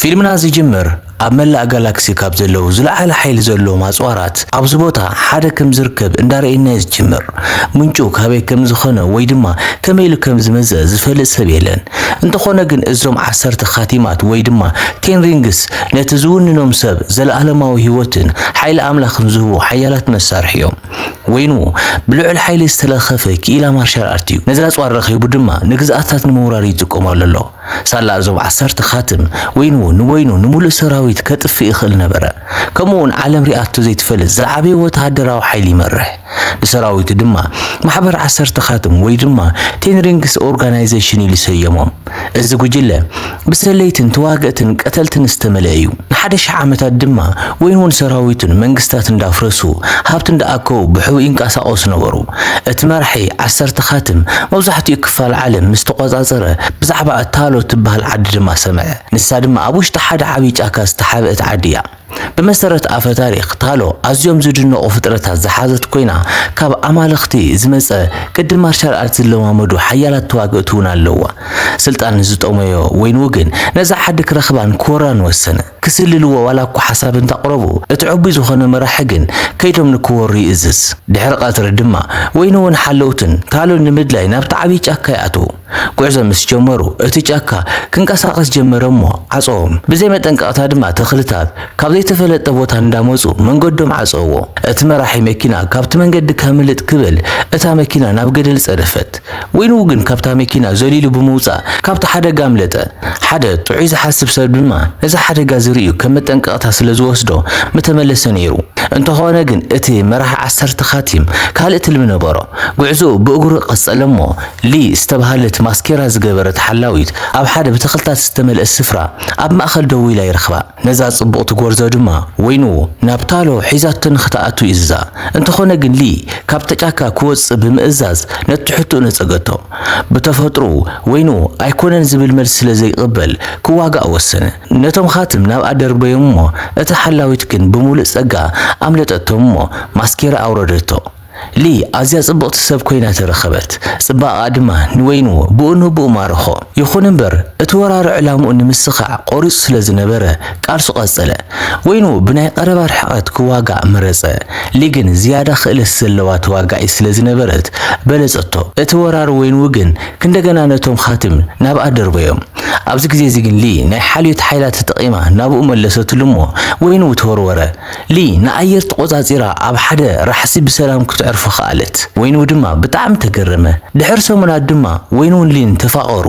ፊልምና ዝጅምር ኣብ መላእ ጋላክሲ ካብ ዘለው ዝለዓለ ሓይሊ ዘለዎም ኣጽዋራት ኣብዚ ቦታ ሓደ ከም ዝርከብ እንዳረእናዮ ዝጅምር። ምንጩ ካበይ ከም ዝኸነ ወይ ድማ ከመይ ኢሉ ከም ዝመጸ ዝፈልጥ ሰብ የለን። እንተኾነ ግን እዞም ዓሰርተ ኻቲማት ወይ ድማ ቴን ሪንግስ ነቲ ዝውንኖም ሰብ ዘለኣለማዊ ህይወትን ሓይሊ ኣምላኽን ዝህቡ ሓያላት መሳርሒ እዮም። ወይኑ ብልዑል ሓይሊ ዝተለኸፈ ክኢላ ማርሻል ኣርት እዩ። ነዚ ኣጽዋር ረኺቡ ድማ ንግዝኣትታት ንምውራር ይጥቀመሉ ኣሎ። ሳላ እዞም ዓሰርተ ካትም ወይኑ ንወይኑ ንምሉእ ሰራዊት ከጥፍእ ይኽእል ነበረ። ከምኡውን ዓለም ሪኣቶ ዘይትፈልጥ ዝዓበየ ወተሃደራዊ ሓይሊ ይመርሕ። ንሰራዊቱ ድማ ማሕበር ዓሰርተ ካትም ወይ ድማ ቴን ሪንግስ ኦርጋናይዜሽን ኢሉ ሰየሞም። እዚ ጉጅለ ብሰለይትን ተዋገእትን ቀተልትን ዝተመልአ እዩ። ንሓደ ሽሕ ዓመታት ድማ ወይን'ውን ሰራዊቱን መንግስታት እንዳፍረሱ፣ ሃብቲ እንዳኣከቡ ብሕቡእ ይንቀሳቐሱ ነበሩ። እቲ መራሒ ዓሰርተ ኻትም መብዛሕትኡ ክፋል ዓለም ምስ ተቖጻጸረ፣ ብዛዕባ እታሎ እትበሃል ዓዲ ድማ ሰምዐ። ንሳ ድማ ኣብ ውሽጢ ሓደ ዓብዪ ጫካ ዝተሓብእት ዓዲ እያ። ብመሰረት ኣፈ-ታሪኽ፣ ታሎ ኣዝዮም ዝድነቑ ፍጥረታት ዝሓዘት ኮይና፣ ካብ ኣማልኽቲ ዝመጸ ቅዲ ማርሻል ኣርት ዝለማመዱ ሓያላት ተዋግእቲ'ውን ኣለዉዋ። ስልጣን ንዝጠመዮ ወይ ንውግን ነዛ ዓዲ ክረኽባን ክወራን ወሰነ። ክስልልዎ ዋላ እኳ ሓሳብ እንተቕረቡ፣ እቲ ዕቡይ ዝኾነ መራሒ ግን ከይዶም ንክወሩ ይእዝዝ። ድሕሪ ቀትሪ ድማ ወይንውን ሓለውትን ካልኡን ንምድላይ ናብቲ ዓብይ ጫካ ይኣትዉ። ጉዕዞ ምስ ጀመሩ እቲ ጫካ ክንቀሳቐስ ጀመረ እሞ ዓፀዎም። ብዘይ መጠንቀቕታ ድማ ተኽልታት ካብ ዘይተፈለጠ ቦታ እንዳመፁ መንገዶም ዓፀውዎ። እቲ መራሒ መኪና ካብቲ መንገዲ ከምልጥ ክብል እታ መኪና ናብ ገደል ፀደፈት። ወይኑ ግን ካብታ መኪና ዘሊሉ ብምውጻእ ካብቲ ሓደጋ ኣምለጠ። ሓደ ጥዑይ ዝሓስብ ሰብ ድማ ነዚ ሓደጋ እዚ ርእዩ ከም መጠንቀቕታ ስለ ዝወስዶ ምተመለሰ ነይሩ። እንተኾነ ግን እቲ መራሒ ዓሰርተ ኻቲም ካልእ ትልሚ ነበሮ። ጉዕዞኡ ብእግሩ ቀጸለ እሞ ሊ ዝተባህለት ማስኬራ ዝገበረት ሓላዊት ኣብ ሓደ ብተኽልታት ዝተመልአ ስፍራ ኣብ ማእከል ደው ኢላ ይረኽባ። ነዛ ጽብቕቲ ጎርዞ ድማ ወይኑ ናብ ታሎ ሒዛቶ ንኽትኣቱ እዝዛ። እንተኾነ ግን ሊ ካብቲ ጫካ ክወጽእ ብምእዛዝ ነቲ ሕቶኡ ነጸገቶ። ብተፈጥሮኡ ወይኑ ኣይኮነን ዝብል መልሲ ስለ ዘይቅበል ክዋጋእ ወሰነ። ነቶም ኻትም ናብ ኣደርበዮም እሞ እታ ሓላዊት ግን ብምሉእ ጸጋ ኣምለጠቶም እሞ ማስኬራ ኣውረደቶ። ሊ ኣዝያ ጽብቕቲ ሰብ ኰይና ተረኸበት፣ ጽባቐኣ ድማ ንወይኑ ብኡንብኡ ማረኾ። ይኹን እምበር፣ እቲ ወራሪ ዕላምኡ ንምስኻዕ ቈሪጹ ስለ ዝነበረ፣ ቃልሱ ቀጸለ። ወይኑ ብናይ ቐረባ ርሕቐት ክዋጋእ መረጸ፣ ሊ ግን ዝያዳ ክእለት ዘለዋ ተዋጋኢት ስለ ዝነበረት በለጸቶ። እቲ ወራሪ ወይኑ ግን ክንደገና ነቶም ኻትም ናብኣ ደርበዮም። ኣብዚ ግዜ'ዚ ግን ሊ ናይ ሓልዮት ሓይላ ተጠቒማ ናብኡ መለሰትሉ እሞ ወይኑ ተወርወረ። ሊ ንኣየር ተቖጻጺራ ኣብ ሓደ ራሕሲ ብሰላም ክትዕርፎ ከኣለት። ወይን'ው ድማ ብጣዕሚ ተገረመ። ድሕሪ ሰሙናት ድማ ወይን'ውን ሊን ተፋቐሩ።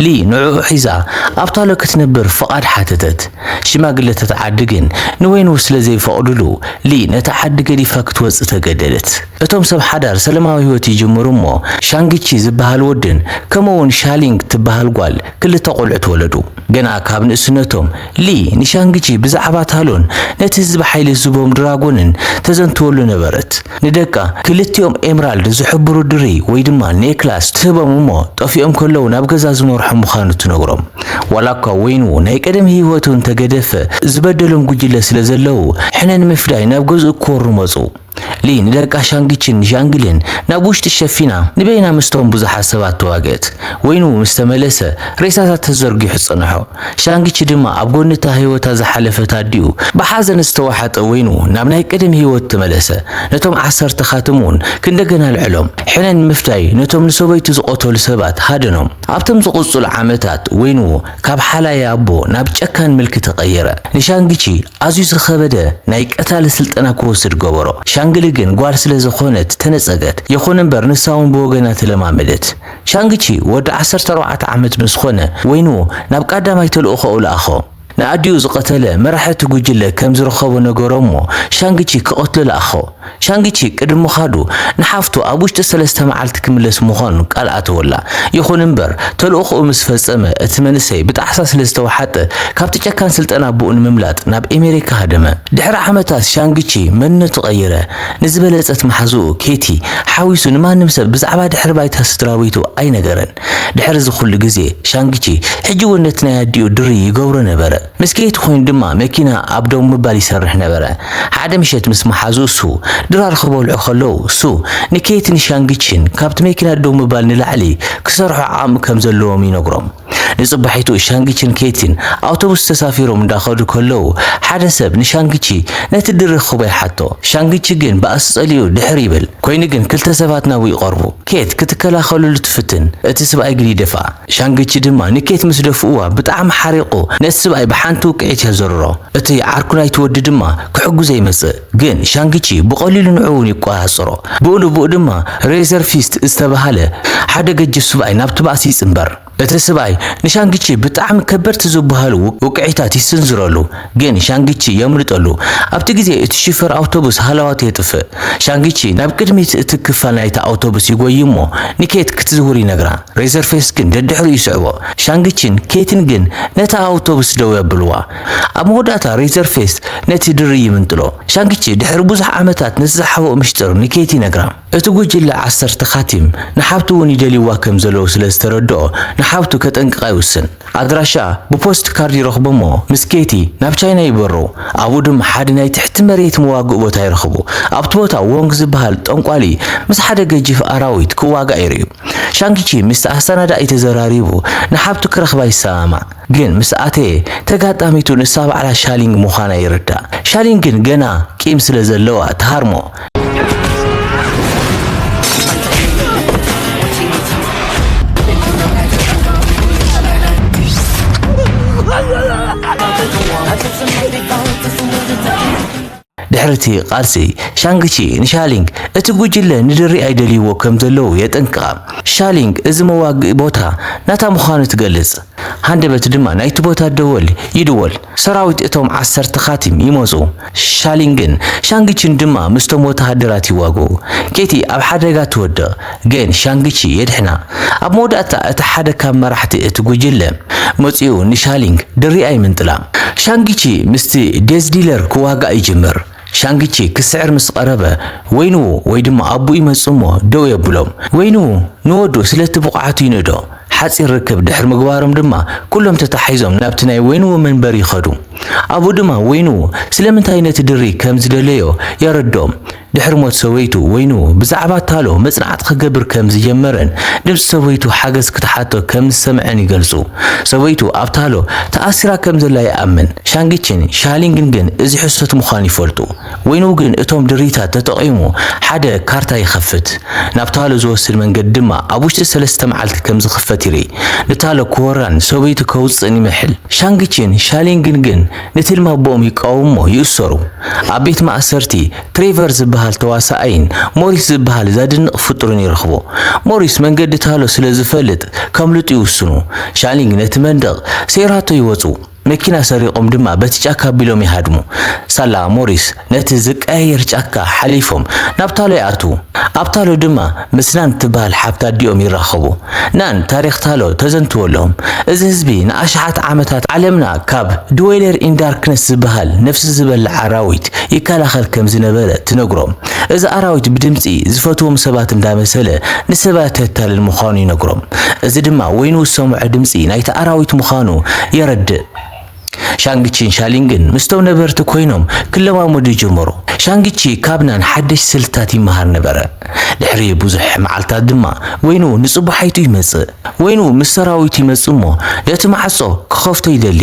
ሊ ንዕኡ ሒዛ ኣብ ታሎ ክትነብር ፍቓድ ሓተተት። ሽማግለታት ዓዲ ግን ንወይን'ው ስለ ዘይፈቕድሉ ሊ ነታ ዓዲ ገዲፋ ክትወጽእ ተገደደት። እቶም ሰብ ሓዳር ሰለማዊ ህይወት ይጅምሩ እሞ ሻንግቺ ዝበሃል ወድን ከምኡ'ውን ሻሊንግ ትበሃል ጓል ክልተ ቆልዑት ወለዱ። ገና ካብ ንእስነቶም፣ ሊ ንሻንግቺ ብዛዕባ ታሎን ነቲ ህዝቢ ሓይሊ ዝህቦም ድራጎንን ተዘንትወሉ ነበረት። ንደቃ ክልቲኦም ኤምራልድ ዝሕብሩ ድርይ ወይ ድማ ኔክላስ ትህቦም እሞ ጠፊኦም ከለዉ ናብ ገዛ ዝመርሖም ምዃኑ ትነግሮም። ዋላኳ ወይን'ዉ ናይ ቀደም ህይወቱ እንተገደፈ ዝበደሎም ጉጅለ ስለዘለዉ ሕነ ንምፍዳይ ናብ ገዝኡ ክወሩ መጹ። ሊ ንደቃ ሻንግቺን ዣንግሊን ናብ ውሽጢ ሸፊና ንበይና ምስቶም ብዙሓት ሰባት ተዋግእት። ወይኑ ምስ ተመለሰ፣ ሬሳታት ተዘርጊሑ ጸንሖ። ሻንግቺ ድማ ኣብ ጎኒ እታ ህይወታ ዝሓለፈት ኣዲኡ ብሓዘን ዝተዋሕጠ ወይኑ ናብ ናይ ቀደም ህይወቱ ተመለሰ። ነቶም ዓሰርተ ኻትም እውን ክንደገና ኣልዐሎም። ሕነ ንምፍዳይ ነቶም ንሰበይቱ ዝቐተሉ ሰባት ሃደኖም። ኣብቶም ዝቕጽሉ ዓመታት ወይኑ ካብ ሓላዪ ኣቦ ናብ ጨካን ምልኪ ተቐየረ። ንሻንግቺ ኣዝዩ ዝኸበደ ናይ ቀታሊ ስልጠና ክወስድ ገበሮ። ሻንግሊ ግን ጓል ስለ ዘኾነት ተነጸገት። የኾነ እምበር ንሳ እውን ብወገና ተለማመደት። ሻንግቺ ወዲ ዓሰርተ ኣርባዕተ ዓመት ምስ ኾነ ወይኑ ናብ ቃዳማይ ተልእኾኡ ለኣኾ። ንኣዲኡ ዝቐተለ መራሒ እቲ ጉጅለ ከም ዝረኸቦ ነገሮ እሞ ሻንግቺ ክቐትሎ ለኣኾ። ሻንግቺ ቅድሚ ምኻዱ ንሓፍቱ ኣብ ውሽጢ ሰለስተ መዓልቲ ክምለስ ምዃኑ ቃል ኣተወላ። ይኹን'ምበር፣ ተልእኾኡ ምስ ፈጸመ፣ እቲ መንእሰይ ብጣዕሳ ስለ ዝተወሓጠ፣ ካብቲ ጨካን ስልጠና ኣቦኡ ንምምላጥ ናብ ኤመሪካ ሃደመ። ድሕሪ ዓመታት ሻንግቺ መንነቱ ቀይረ፣ ንዝበለጸት መሓዝኡ ኬቲ ሓዊሱ ንማንም ሰብ ብዛዕባ ድሕሪ ባይታ ስድራቤቱ ኣይነገረን። ድሕሪ እዚ ኹሉ ግዜ፣ ሻንግቺ ሕጂ'ውን ነቲ ናይ ኣዲኡ ድርይ ይገብሮ ነበረ። ምስ ኬቲ ኮይኑ ድማ መኪና ኣብ ደው ምባል ይሰርሕ ነበረ። ሓደ ምሸት ምስ መሓዝኡ ሱ ድራር ኽበልዑ ኸለዉ፣ ሱ ንኬቲን ሻንግቺን ካብቲ መኪና ደው ምባል ንላዕሊ ክሰርሑ ዓቕሚ ከም ዘለዎም ይነግሮም። ንጽባሒቱ ሻንግቺን ኬቲን ኣውቶቡስ ተሳፊሮም እንዳ ኸዱ ከለዉ ሓደ ሰብ ንሻንግቺ ነቲ ድሪ ኽህቦ ይሓቶ። ሻንግቺ ግን ባእሲ ጸሊኡ ድሕር ይብል። ኮይኑ ግን ክልተ ሰባት ናብኡ ይቐርቡ። ኬት ክትከላኸለሉ ትፍትን፣ እቲ ስብኣይ ግን ይደፍኣ። ሻንግቺ ድማ ንኬት ምስ ደፍኡዋ ብጣዕሚ ሓሪቑ ነቲ ስብኣይ ብሓንቲ ውቅዒት የዘርሮ። እቲ ዓርኩ ናይቲ ወዲ ድማ ክሕጉዘ ይመጽእ ግን ሻንግቺ ብቐሊሉ ንዑኡ ውን ይቆጻጸሮ። ብኡ ንብኡ ድማ ሬዘር ፊስት ዝተበሃለ ሓደ ገጅፍ ስብኣይ ናብቲ ባእሲ ይጽንበር። እቲ ስብኣይ ንሻንግቺ ብጣዕሚ ከበድቲ ዝበሃሉ ውቅዒታት ይስንዝረሉ። ግን ሻንግቺ የምልጦ ኣሉ። ኣብቲ ግዜ እቲ ሹፌር ኣውቶቡስ ሃለዋቱ የጥፍእ። ሻንግቺ ናብ ቅድሚት እቲ ክፋል ናይታ ኣውቶቡስ ይጎዪ እሞ ንኬት ክትዝውር ይነግራ። ሬዘርፌስ ግን ደድሕሪኡ ይስዕቦ። ሻንግቺን ኬትን ግን ነታ ኣውቶቡስ ደው የብልዋ። ኣብ መወዳእታ ሬዘርፌስ ነቲ ድሪ ይምንጥሎ። ሻንግቺ ድሕሪ ብዙሕ ዓመታት ነቲ ዝሓብኦ ምሽጥር ንኬት ይነግራ። እቲ ጉጅለ ዓሰርተ ካቲም ንሓብቱ እውን ይደልይዋ ከም ዘለዉ ስለ ዝተረድኦ ንሓብቱ ከጠንቅቓ ይውስን። ኣድራሻኣ ብፖስት ካርድ ይረኽቦ እሞ ምስ ኬቲ ናብ ቻይና ይበሩ። ኣብኡ ድማ ሓደ ናይ ትሕቲ መሬት መዋግኢ ቦታ ይረኽቡ። ኣብቲ ቦታ ዎንግ ዝበሃል ጠንቋሊ ምስ ሓደ ገጂፍ ኣራዊት ክዋጋእ ይርእዩ። ሻንግቺ ምስቲ ኣሰናዳኢ ተዘራሪቡ ንሓብቱ ክረኽባ ይሰማማዕ፣ ግን ምስ ኣተየ ተጋጣሚቱ ንሳ ባዕላ ሻሊንግ ምዃና ይርዳእ። ሻሊንግ ግን ገና ቂም ስለ ዘለዋ ትሃርሞ። ድሕሪ እቲ ቃልሲ፣ ሻንግ ቺ ንሻሊንግ፣ እቲ ጉጅለ ንድሪ ኣይደልይዎ ከም ዘለዉ የጠንቅቓ። ሻሊንግ እዚ መዋግኢ ቦታ ናታ ምዃኑ ትገልጽ። ሃንደበት ድማ ናይቲ ቦታ ደወል ይድወል። ሰራዊት እቶም ዓሰርተ ካቲም ይመጹ። ሻሊንግን ሻንግ ቺን ድማ ምስቶም ወተሃደራት ይዋግኡ። ኬቲ ኣብ ሓደጋ ትወድቕ። ግን ሻንግ-ቺ የድሕና። ኣብ መወዳእታ እቲ ሓደ ካብ መራሕቲ እቲ ጕጅለ መጺኡ ንሻሊንግ ድሪኣ ይምንጥላ። ሻንግ-ቺ ምስቲ ዴዝ ዲለር ክዋጋእ ይጅምር። ሻንግ-ቺ ክስዕር ምስ ቐረበ፣ ወይንዉ ወይ ድማ ኣቡኡ ይመጽእ እሞ ደው የብሎ። ወይንዉ ንወዱ ስለቲ ብቕዓቱ ይንእዶ። ሓጺር ርክብ ድሕሪ ምግባሮም ድማ ኵሎም ተተሓሒዞም ናብቲ ናይ ወይንዉ መንበሪ ይኸዱ። ኣብኡ ድማ ወይንዉ ስለምንታይ ነቲ ድሪ ከም ዝደለዮ የረድኦም። ድሕሪ ሞት ሰበይቱ፣ ወይኑ ብዛዕባ ታሎ መጽናዕቲ ክገብር ከም ዝጀመረን ድምጺ ሰበይቱ ሓገዝ ክትሓቶ ከም ዝሰምዐን ይገልጹ። ሰበይቱ ኣብ ታሎ ተኣሲራ ከም ዘላ ይኣምን። ሻንግቺን ሻሊንግን ግን እዚ ሕሶት ምዃኑ ይፈልጡ። ወይኑ ግን እቶም ድሪታት ተጠቒሙ ሓደ ካርታ ይኸፍት። ናብ ታሎ ዝወስድ መንገዲ ድማ ኣብ ውሽጢ ሰለስተ መዓልቲ ከም ዝኽፈት ይርኢ። ንታሎ ክወራን ሰበይቱ ከውጽእን ይምሕል። ሻንግቺን ሻሊንግን ግን ንትልሚ ኣቦኦም ይቃወምዎ ይእሰሩ። ኣብ ቤት ማእሰርቲ ትሬቨር ዝበሃል ተዋሳኣይን ሞሪስ ዝበሃል ዘድንቕ ፍጡርን ይረኽቦ። ሞሪስ መንገዲ ታሎ ስለ ዝፈልጥ ከምልጡ ይውስኑ። ሻሊንግ ነቲ መንደቕ ሰይራቶ ይወጹ። መኪና ሰሪቖም ድማ በቲ ጫካ ኣቢሎም ይሃድሙ። ሳላ ሞሪስ ነቲ ዝቀያየር ጫካ ሓሊፎም ናብ ታሎ ይኣትዉ። ኣብ ታሎ ድማ ምስ ናን እትበሃል ሓብቲ ኣዲኦም ይራኸቡ። ናን ታሪኽ ታሎ ተዘንትወሎም። እዚ ህዝቢ ንኣሽሓት ዓመታት ዓለምና ካብ ድዌለር ኢን ዳርክነስ ዝበሃል ነፍሲ ዝበልዕ ኣራዊት ይከላኸል ከም ዝነበረ ትነግሮም። እዚ ኣራዊት ብድምጺ ዝፈትዎም ሰባት እንዳመሰለ ንሰባት የታልል ምዃኑ ይነግሮም። እዚ ድማ ወይኑ ዝሰምዖ ድምጺ ናይቲ ኣራዊት ምዃኑ የረድእ። ሻንግቺን ሻሊንግን ምስቶም ነበርቲ ኮይኖም ክለማመዱ ጀመሩ። ሻንግቺ ካብ ናን ሓደሽቲ ስልትታት ይመሃር ነበረ። ድሕሪ ብዙሕ መዓልታት ድማ ወይኑ ንጽባሒቱ ይመጽእ። ወይኑ ምስ ሰራዊቱ ይመጽእ እሞ ነቲ ማዕጾ ክኸፍቶ ይደሊ።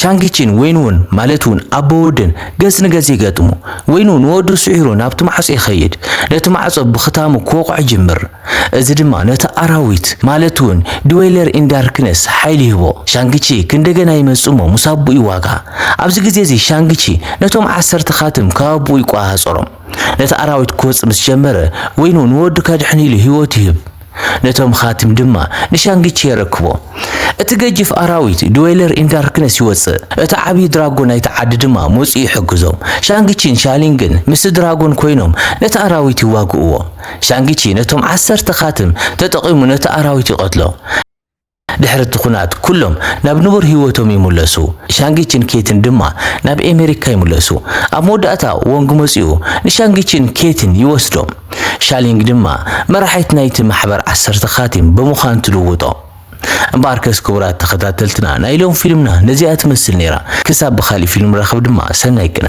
ሻንግቺን ወይንውን ማለት እውን ኣቦ ወድን ገጽ ንገጽ ይገጥሙ። ወይኑ ንወዱ ስዒሩ ናብቲ ማዕጾ ይኸይድ፣ ነቲ ማዕጾ ብኽታሙ ክወቕዖ ይጅምር። እዚ ድማ ነቲ ኣራዊት ማለት እውን ድዌለር ኢን ዳርክነስ ሓይሊ ይህቦ። ሻንግቺ ክንደገና ይመጽእ እሞ ምስ ኣቦኡ ይዋጋ። ኣብዚ ግዜ እዚ ሻንግቺ ነቶም ዓሰርተ ካትም ካብ ኣቦኡ ይቆጻጸሮም። ነቲ ኣራዊት ክወጽእ ምስ ጀመረ ወይኑ ንወዱ ከድሕን ኢሉ ህይወቱ ይህብ። ነቶም ኻትም ድማ ንሻንግቺ የረክቦ። እቲ ገጂፍ ኣራዊት፣ ድዌለር ኢን ዳርክነስ፣ ይወጽእ፣ እቲ ዓብዪ ድራጎን ናይቲ ዓዲ ድማ መጺኡ ይሕግዞም። ሻንግቺን ሻሊንግን ምስቲ ድራጎን ኰይኖም ነቲ ኣራዊት ይዋግእዎ። ሻንግቺ ነቶም ዓሰርተ ኻትም ተጠቒሙ ነቲ ኣራዊት ይቐትሎ። ድሕሪ እቲ ኵናት ኵሎም ናብ ንቡር ህይወቶም ይምለሱ፣ ሻንጊችን ኬትን ድማ ናብ ኣመሪካ ይምለሱ። ኣብ መወዳእታ ዎንግ መጺኡ ንሻንጊችን ኬትን ይወስዶም፣ ሻሊንግ ድማ መራሒት ናይቲ ማሕበር ዓሰርተ ኻቲም ብምዃን ትልውጦም። እምበኣርከስ ክቡራት ተኸታተልትና ናይ ሎሚ ፊልምና ነዚኣ ትመስል ነይራ፣ ክሳብ ብኻሊእ ፊልም ንራኸብ ድማ ሰናይ ቅነ።